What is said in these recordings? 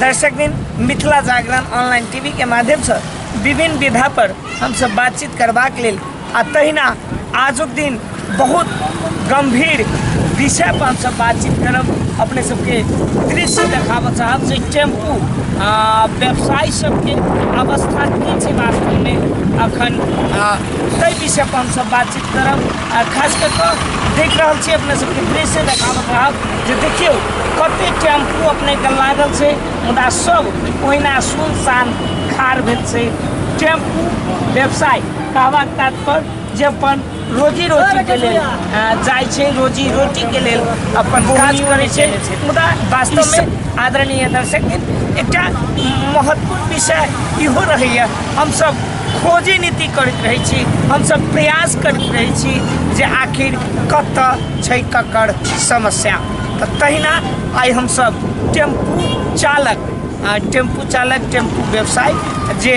दर्शक दिन Mithila Jagran online TV के माध्यम से विभिन्न विधा पर हम सब बातचीत करबाक लेल आ तहिना आजुक दिन बहुत गंभीर विषय पर हमसब बातचीत करब अपने सबके दृश्य देखाबऽ चाहब जे टेम्पू आ व्यवसायी सबके अवस्था की छै वास्तवमे अखन आ, ताहि विषय पर हमसब बातचीत करब आ खास कऽ कऽ देख रहल छी अपने सबके दृश्य देखाबऽ चाहब जे देखियौ कते टेम्पू अपनेके लागल छै मुदा सब ओहिना सुनसान खार भेल छै टेम्पू व्यवसाय कावाक तात्पर्य जे अपन रोजी रोटीके लेल जाइ छै रोजी रोटीके लेल अपन काज करै छै मुदा वास्तवमे आदरणीय दर्शक एकटा महत्वपूर्ण विषय इहो रहैए हमसब खोजी नीति करैत रहै छी हमसब प्रयास करैत रहै छी जे आखिर कतऽ छै ककर समस्या तऽ तहिना आइ हमसब टेम्पू चालक टेम्पू चालक टेम्पू व्यवसाय जे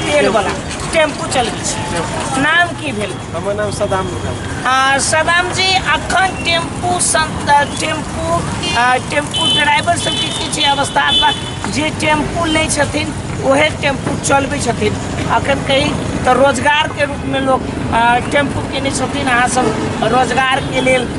तेल वाला टेम्पू चलबै छी नाम की भेल हमर नाम सदाम आ, सदाम जी अखन टेम्पू संत टेम्पू आ, टेम्पू ड्राइवर सबके की छै अवस्था बा जे टेम्पू लै छथिन ओहे टेम्पू चलबै छथिन अखन कहीं तऽ रोजगारके रूपमे लोक आ, टेम्पू केने छथिन अहाँ सब रोजगारके लेल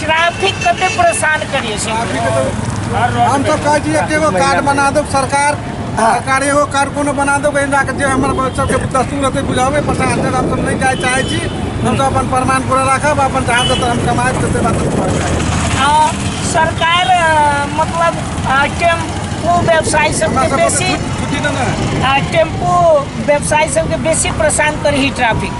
ट्रैफिक कते परेशान करिए छै हम तो कह दिए कि एगो कार्ड बना दो सरकार हाँ। सरकार एगो कार्ड कोनो बना दो कहीं जाके जे हमर बच्चा के दस्तूर हते बुझावे पता हते हम सब नहीं जाए चाहे छी हम तो अपन प्रमाण पूरा रखब अपन जहाँ से हम कमाए से बात कर जाए सरकार मतलब टेम्पू व्यवसायी सबके बेसी टेम्पू व्यवसायी सबके बेसी परेशान करी ट्रैफिक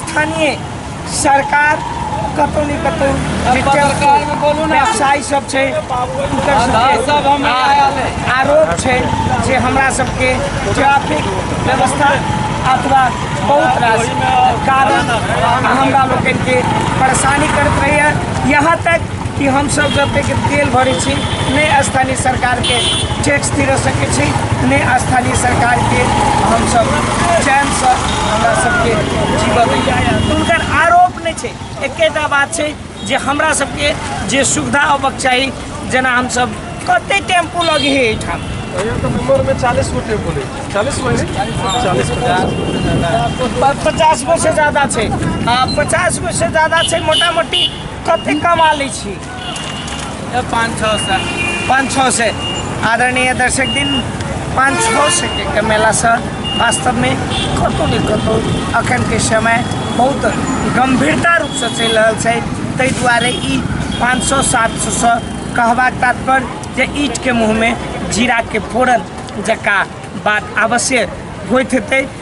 स्थानीय सरकार कतौ ने कतौ व्यवसायी सब छै हुनकर सबके आ- आरोप छै जे हमरा सबके ट्रैफिक व्यवस्था अथवा बहुत रास कारण हमरा लोकनिके परेशानी करैत रहैए यहाँ तक कि हमसभ जतेक तेल भरै छी नहि स्थानीय सरकारके टैक्स दिर सकै छी नहि स्थानीय सरकारके हमसभ चैनसँ हमरा सभके जीवन दैए तऽ हुनकर आरोप नहि छै एकेटा बात छै जे हमरा सभके जे सुविधा अबक चाही जेना हमसभ कते टेम्पू लगे हे एहिठाम यहाँ तो नंबर में चालीस गो टेम्पो है चालीस गो है चालीस पचास प- पचास गो से ज्यादा छै आ पचास गो से ज्यादा छै मोटा मोटी कते कमा लै छी पाँच छओ सए पाँच छओ सए आदरणीय दर्शक दिन पाँच छओ सए के कमेलासँ वास्तवमे कतहु ने कतहु अखनके समय बहुत गम्भीरता रूपसँ चलि रहल छै ताहि दुआरे ई पाँच सए सात सएसँ कहबाक तात्पर्य जे ईटके मुँहमे जीराके फोरन जकाँ बात अवश्य होइत हेतै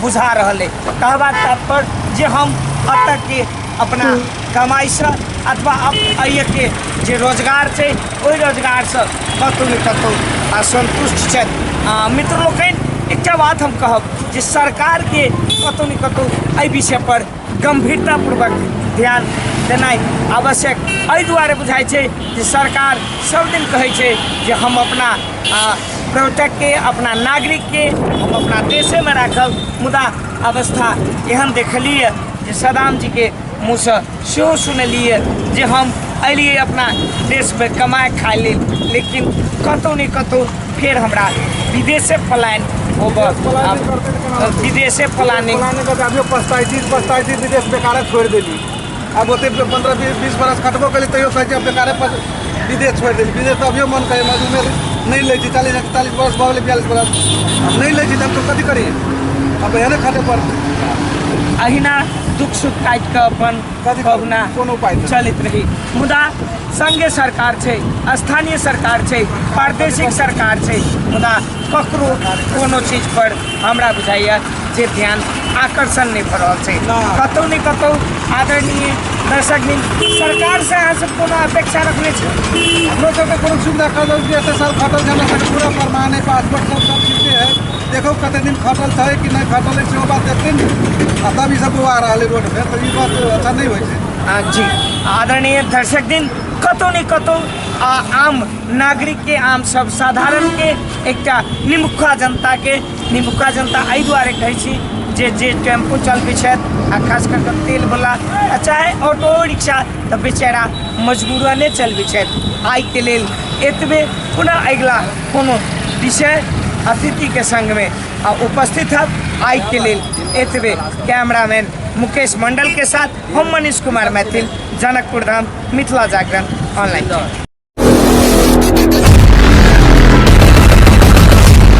बुझा रहल अइ कहबाक तात्पर्य जे हम एतऽ के अपना कमाइसँ अथवा अप- अइके जे रोजगार छै ओहि रोजगारसँ कतहु ने कतहु असन्तुष्ट छथि आ मित्र लोकनि एकटा बात हम कहब जे सरकारके कतहु ने कतहु एहि विषयपर गम्भीरतापूर्वक ध्यान देनाइ आवश्यक एहि दुआरे बुझाइ छै जे सरकार सब दिन कहै छै जे हम अपना आ, पर्यटकके अपना नागरिकके हम अपना देशेमे राखब मुदा अवस्था एहन देखलिए जे सदाम जीके मुँहसँ सेहो सुनलिए जे हम अलिए अपना देशमे कमाए खाए लेल लेकिन कतहु ने कतहु फिर हमरा विदेशे प्लान होबक विदेशे प्लानिंग प्लानिंग करते अभियो पछताई छी पछताई छी विदेश बेकारे छोड़ि देली आब ओते पंद्रह बीस बीस बरस खटबो करी तैयो कहै छै बेकारे पर विदेश छोड़ि देली विदेश तऽ अभियो मन कहै मजू उमेर नहि लै छी चालीस एकतालीस बरस भऽ गेलै बियालीस बरस आब नहि लै छी तऽ हम तऽ कथी करी अब एहने खटे पड़तै अहिना दुख सुख काटि कऽ अपन भगना चलैत रही मुदा संगे सरकार छै स्थानीय सरकार छै प्रादेशिक सरकार छै मुदा ककरो कोनो चीज पर हमरा बुझाइए जे ध्यान आकर्षण नहि भऽ रहल छै कतहु ने कतहु आदरणीय दर्शक दिन सरकार से अहाँ सब कोनो अपेक्षा रखने छी हमरो सबके कोनो सुविधा कऽ दल एते साल खटल छै हमरा सबके पूरा प्रमाण है पासपोर्ट सब सब चीज है देखो कते दिन खटल छै कि नहि खटल छै सेहो बात देखथिन आ तब ई सब बौआ रहल रोड पर तऽ ई बात अच्छा नहि होइ छै आ, जी आदरणीय दर्शक दिन कतौ ने कतौ आ, आम नागरिक के आम सब साधारण के एकटा निमुखा जनता के निमुखा जनता एहि दुआरे कहै छी जे जे टेम्पो चलबै छथि आ खास कऽ कऽ तेल बला आ चाहे ऑटो रिक्शा तऽ बेचारा मजबूरने चलबै छथि आइके लेल एतबे पुनः अगिला कोनो विषय अतिथि के संग में आ उपस्थित है आई के लेल एतबे कैमरामैन मुकेश मंडल के साथ हम मनीष कुमार मैथिल जनकपुर धाम मिथिला जागरण ऑनलाइन